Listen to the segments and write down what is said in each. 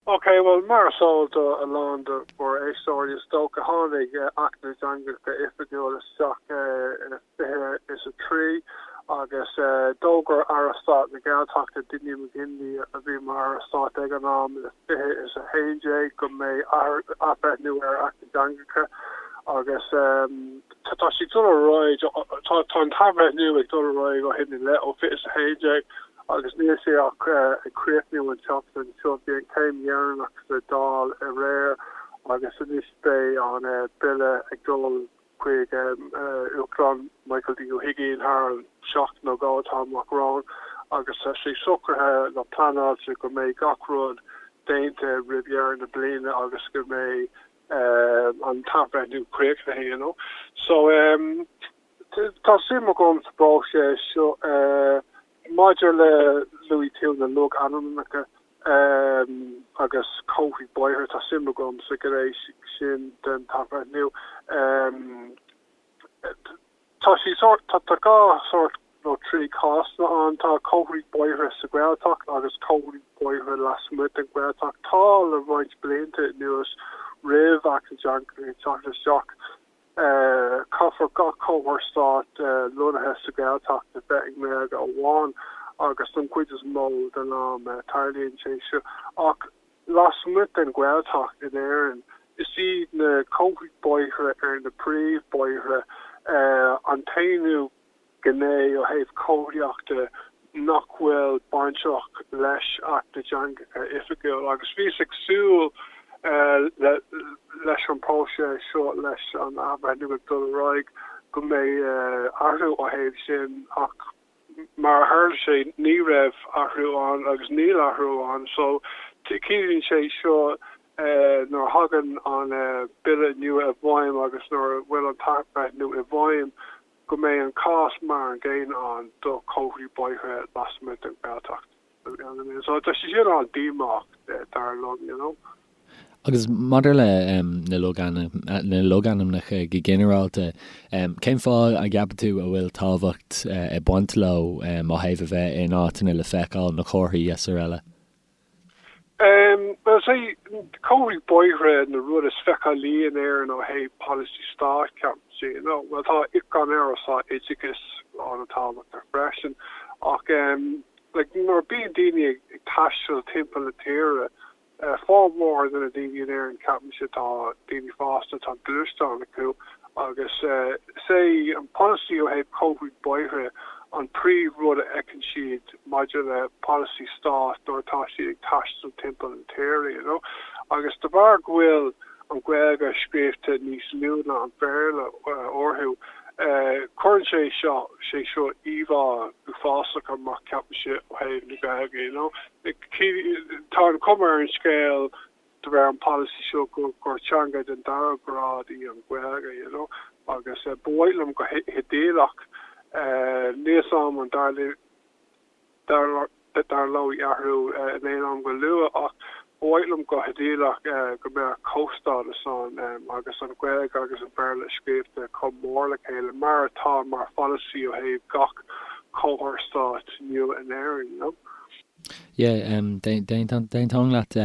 OK, bhuel, mar is eol do a lán de bhur éisteoirí, is dócha, tháinig Acht na dTeangacha Oifigiúil isteach i fiche is a trí agus d'fhógair Aire Stáit na Gaeltachta, Dinny McGinley, a bhí mar Aire Stáit ag an am, i fiche is a haon déag go mbeidh athbhreithniú ar Acht na dTeangacha agus. Tá sé ag dul ar aghaidh. Tá an t-athbhreithniú ag dul ar aghaidh ó shin i leith, ó 20 is 11, agus níl sé ach ag críochnú an tseachtain seo. Bhí an chéim dheireanach sa Dáil aréir agus anois beidh an bille ag dul chuig Uachtarán Michael D. Ó hUigínn thar an seachtain nó dhó atá amach romhainn agus tá sé socraithe nó pleanáilte go mbeidh gach rud déanta roimh dheireadh na bliana agus go mbeidh an t-athbhreithniú críochnaithe you know so em tá suim agam sa bpróiseas seo eh maidir le luaigh tú na logainmneacha em agus comharthaí bóithre tá suim agam sa ghné sin den athbhreithniú em Tá sé sórt, tá dhá sórt nó trí cásanna ann. Tá comharthaí bóithre sa Ghaeltacht agus comharthaí bóithre lasmuigh den Ghaeltacht. Tá le roinnt blianta anuas roimh Acht na dTeangacha isteach, caithfear gach comhartha stáit lonnaithe sa Ghaeltacht a bheith i nGaeilge amháin agus don chuid is mó den am. Tarlaíonn sé seo ach Lasmuigh den Ghaeltacht in Éirinn, is iad na comharthaí bóithre ar na príomhbhóithre an t-aon ghné ó thaobh comharthaíochta nach bhfuil bainteach leis Acht na dTeangacha Oifigiúil agus bhíos ag súil leis an bpróiseas seo leis an athbhreithniú ag dul ar aghaidh go mbeidh athrú ó thaobh sin ach Mar a tharla sé ní raibh athrú ann agus níl athrú ann so ciallaíonn sé seo nuair a thagann an Bille nua i bhfeidhm agus nuair a bhfuil an t-athbhreithniú i bhfeidhm go mbeidh an cás mar an gcéanna ann do chomharthaí bóithre lasmuigh den Ghaeltacht. Agus maidir leis na logainmneacha go ginearálta, cén fáth a gceapann tú a bhfuil tábhacht ag baint leo ó thaobh a bheith in áiteanna le feiceáil, na comharthaí is araile? Bhuel, is é comharthaí bóithre an rud is feiceálaí in Éirinn ó thaobh polasaí stáit, ceapaim féin. Bhuel tá, gan amhras, tá oideachas an-tábhachtach freisin ach like nuair bíonn daoine ag taisteal timpeall na tíre formhór de na daoine in Éirinn ceapaimse atá daoine fásta atá gluaisteán acu agus is é an polasaí ó thaobh comharthaí bóithre an príomh rud a fheiceann siad maidir le polasaí stáit nuair atá siad ag taisteal timpeall na tíre you know agus de bharr go bhfuil an an Ghaeilge scríobhta níos lú ná an Béarla orthu. Cuireann sé seo sé seo íomhá uafásach amach ceapaimse ó thaobh na Gaeilge you know. Tá an chuma ar an scéal de bharr an policy seo gur teanga den dara grád í an Ghaeilge you know agus ba mhaith liom go hidéalach níl a fhios agam an dtarlódh, dtarlódh athrú in aon am go luath ach ba mhaith liom go hidéalach go mbeadh comhstádas ann agus an Ghaeilge agus an Bhéarla scríobhta chomh mór le chéile mar atá mar pholasaí ó thaobh gach comhartha stáit nua in Éirinn. Yeah, d'aontóinn leat.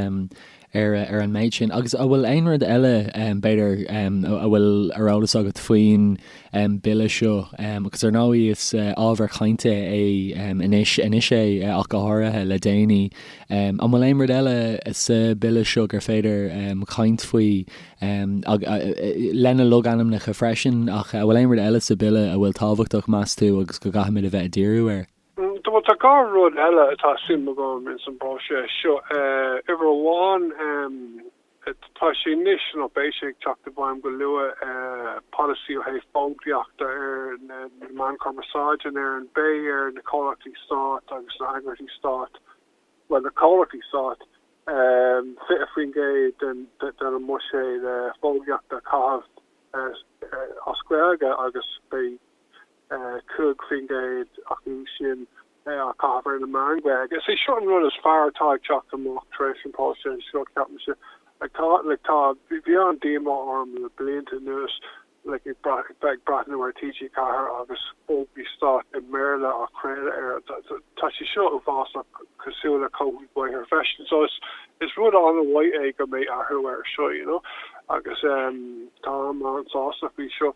ar an méid sin. Agus an bhfuil aon rud eile, b'fhéidir, a bhfuil ar eolas agat faoin mBille seo? Agus ar ndóigh is ábhar cainte é anois, anois é ach go háirithe, le déanaí. An bhfuil aon rud eile sa Bhille seo gur féidir caint faoi, lena logainmneacha freisin, ach an bhfuil aon rud eile sa Bhille a bhfuil tábhachtach, meas tú, agus go gcaithfimid a bheith ag díriú air? Bhuel tá dhá rud eile atá suim agam ins an bpróiseas seo. Uimhir amháin, tá sé anois, nó beidh sé ag teacht i bhfeidhm go luath, polasaí ó thaobh fógraíochta ar na meáin chumarsáide in Éirinn. Beidh ar na comhlachtaí stáit agus na heagraíochtaí stáit, bhuel na comhlachtaí stáit, 20% den a mbuiséad fógraíochta a chaitheamh as Gaeilge agus beidh. 5% acu sin a chaitheamh ar na meáin Ghaeilge. Is é seo an rud is fearr atá ag teacht amach tar éis an próiseas seo, ceapaimse. Like tá, bhí an-díomá orm le blianta anuas like ag brath, bheith ag breathnú ar TG4 agus fógraí stáit i mBéarla á chraoladh air. Tá sé seo uafásach, cosúil le comharthaí bóithre freisin. So is, is rud an-mhaith é go mbeidh athrú air seo, you know, agus táim an-sásta faoi seo.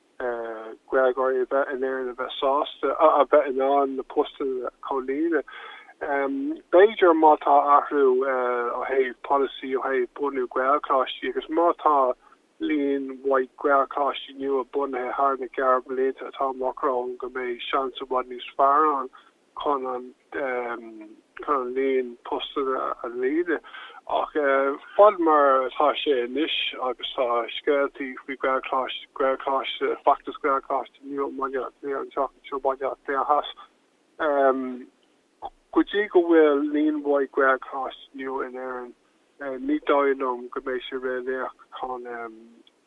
Gaeilgeoirí a bheith in Éirinn a bheith sásta a bheith in ann na postanna a chomhlíonadh. B'fhéidir má tá athrú ó thaobh polasaí, ó thaobh bunú Gaelcholáistí agus má tá líon maith Gaelcholáistí nua bunaithe thar na gearrbhlianta atá amach romhainn go mbeidh seans i bhfad níos fearr ann. chun an líon postanna a líonadh ach fad mar atá sé anois agus tá scéaltaí faoi Ghaelcholáiste, feachtas Gaelcholáiste nua i mBaile Átha Cliath anseo i mBaile Átha Cliath Theas, go dtí go bhfuil líon mhaith Gaelcholáistí nua in Éirinn. Ní dóigh liom go mbeidh sé réalaíoch chun a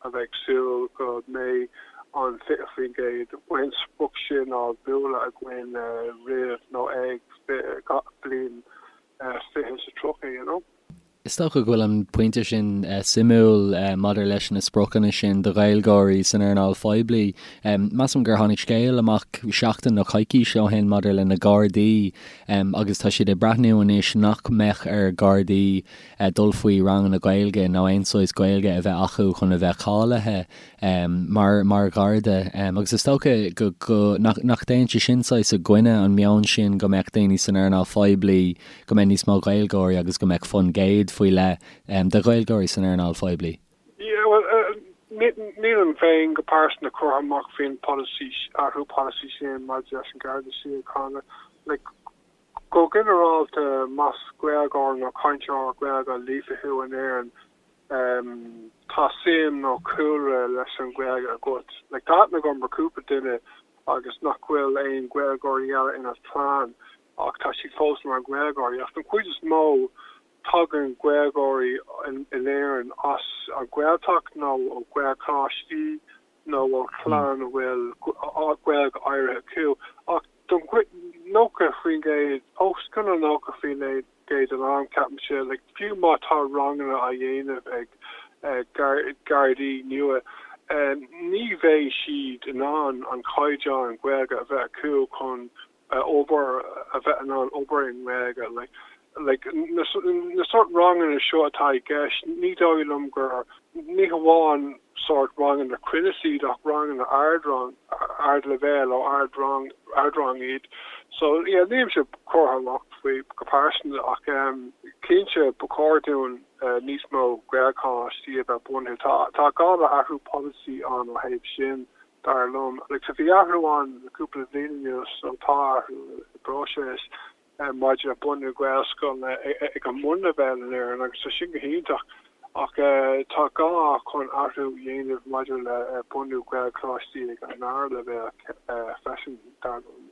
bheith ag súil go mbeidh an 20% an sprioc sin a bheith buailte againn roimh nó ag an bhliain fiche is a tríocha, you know. Is dócha go bhfuil an pointe sin suimiúil maidir leis na spriocanna sin do Ghaeilgeoirí san earnáil phoiblí. Measaim gur tháinig scéal amach seachtain nó coicís ó shin maidir leis na Gardaí em agus tá siad ag breathnú anois nach mbeadh ar Ghardaí eh dul faoi ranganna Gaeilge nó aon saghas Gaeilge a bheith acu chun a bheith cáilithe em mar mar Gharda em agus is dócha go go nach nach dtéann sin saghas i gcoinne an meon sin go mbeadh daoine san earnáil phoiblí go mbeidh níos mó Gaeilgeoirí agus go mbeadh fonn gcéad faoi leith em de Ghaeilgeoirí san earnáil phoiblí. Yeah, well, nílim féin go pearsanta curtha amach faoin polasaí, athrú polasaí sin maidir leis an Garda Síochána. Like, go ginearálta, más Gaeilgeoir nó cainteoir Gaeilge líofa thú in Éirinn, um tá suim nó cúlra leis an Ghaeilge agat. Like, tá aithne agam ar cúpla duine agus nach bhfuil aon Ghaeilgeoirí eile ina chlann ach tá siad fós mar Ghaeilgeoirí. Ach den chuid is mó, Tagann Gaeilgeoirí in Éirinn as an Ghaeltacht nó ó Ghaelcholáistí nó ó chlann a bhfuil Gaeilge áirithe acu, ach don chuid, 90%, os cionn an 90% den am, ceapaimse, fiú má tá ranganna á dhéanamh ag Gardaí nua, ní bheidh siad in ann an caighdeán Gaeilge a bheith acu chun a obair, a bheith in ann obair i nGaeilge, like na sórt ranganna seo atá i gceist, ní dóigh liom gur, ní hamháin sórt ranganna cruinnis iad ach ranganna ard-rang, ard-leibhéal ó ard-rang, ard-rang iad. So yeah, nílimse curtha amach faoi go pearsanta ach em cinnte ba chóir dúinn níos mó Gaelcholáistí a bheith bunaithe, tá gá le athrú polasaí ann ó thaobh sin. dar liom. Agus bhí athrú ann le cúpla bhliain anuas, nó tá athrú i bpróiseas maidir le bunú Gaelscoileanna ag an mbunleibhéal in Éirinn agus tá sin go hiontach ach tá gá chun athrú a dhéanamh maidir le bunú Gaelcholáistí ag an dara leibhéal freisin, dar liom.